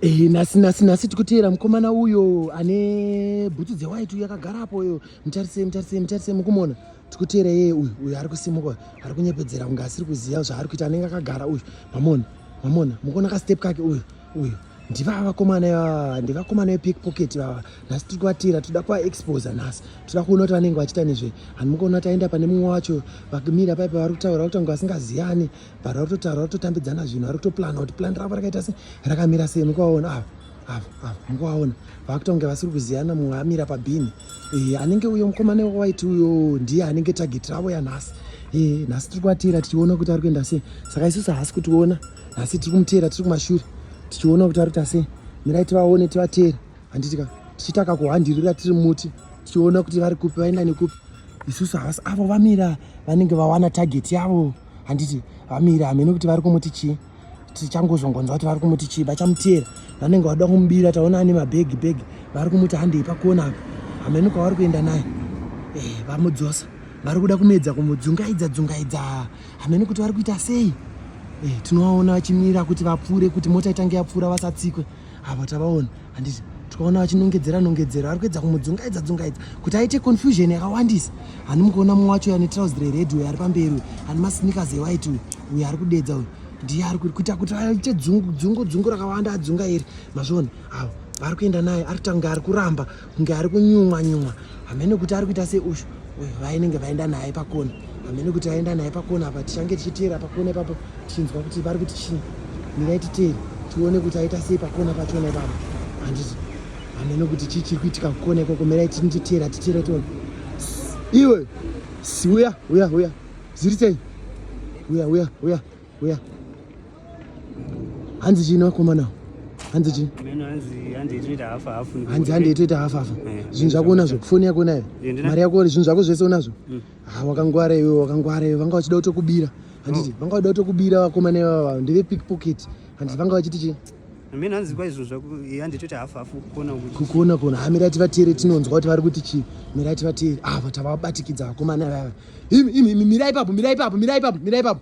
Eh, nasi nasi nasi tikuteera mukomana uyo ane bhutsu dzewhite uyo akagara apo uyo mutarise mutarise mutarise mukumona tikuteera yeye uyu uyo ari kusimuka ari kunyepedzera kunge asiri kuziva zvaari kuita anenge akagara uyu mamona mamona mukuona kastep kake uyu uyu ndivava vakomana ivava ndivakomana vepickpocket vava nhasi tiri kuvatira toda kuvaexposa nhasi toda kuona kuti vanenge vachiita nezvei handi mukuona taenda pane mumwe wacho vakumira paipa vari kutaura kuti ange vasingaziyani but vari kutotaura vari kutotambidzana zvinhu vari kutoplana kuti plan ravo rakaita se rakamira sei mukuvaona ava ava ava mukuvaona vakutonge vasiri kuziyana mumwe amira pabhini e, anenge uyo mukomana waiti uyo ndiye anenge target ravo yanhasi e, nhasi tiri kuvateera tichiona kuti ari kuenda sei saka isusu haasi kutiona nhasi tiri kumuteera tiri kumashure tichiona kuti ari kuita sei mirai tivaone tivateere handitika tichitaka kuhandirira tiri muti tichiona kuti vari kupi vaenda nekupi isusu havasi avo vamira vanenge vawana target yavo handiti vamire hameno kuti vari kumuti chii tichangozongonzwa kuti vari kumuti chii vachamutiyera vanenge vakuda kumubira taona ane mabhegi bhegi vari kumuti handei pakuona apa hameno kwavari kuenda naye eh, vamudzosa vari kuda kumedza kumudzungaidza dzungaidza hameno kuti vari kuita sei eh, tinovaona vachimira kuti vapfuure kuti mota itange yapfuura vasatsikwe ava tavaona handiti tikaona vachinongedzera nongedzera vari kuedza kumudzungaidza dzungaidza kuti aite confusion yakawandisa handi mukuona mumwe wacho ane trouse rered uyo ari pamberi uyo ane masneakers ewhite uyo uyo ari kudedza uyo ndiye ari kuita kuti aite dzungu dzungu dzungu rakawanda adzunga iri mazviona avo vari kuenda naye ari kutanga ari kuramba kunge ari kunyumwa nyumwa hamene kuti ari kuita seushu vainenge vaenda naye pakona hamene kuti vaenda naye pakona apa tichange tichiteera pakona ipapo tichinzwa kuti vari kuti chii mirai titeere tione kuti aita sei pakona pachona ipapo handiti hamene kuti chii chiri kuitika kukona ikoko mirai tinititeera titeere tione iwe uya uya uya ziri sei uya uya uya uya hanzi chii nevakomana hanzi chii hanzi hande itoita hafu hafu eh, zvinhu zvako unazvo foni yako unayo eh, mari yako zvinhu zvako zvese unazvo hmm. ha ah, wakangwara iwe wakangwara iwe vanga vachida kutokubira handiti oh. vanga vachida kutokubira vakomana ivava ndeve pickpocket handiti vanga vachiti chii mimi hanzi kwa izvo zvaku handi toti hafu hafu kuona kuti kukuona kuona ha mirati vatiri tinonzwa kuti vari kuti chi mirati vatiri ah vata vabatikidza vakomana vava imi imi mirai papo mirai papo mirai papo mirai papo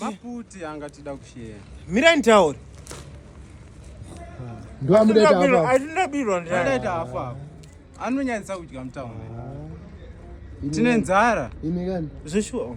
Maputi anga tida kushare. Mira nitaure. Ndo amuda tafa. Atinda birwa ndira. Atinda tafa. Anonyanyisa kudya mtawo. Tine nzara. Ine kani? Zveshuwa.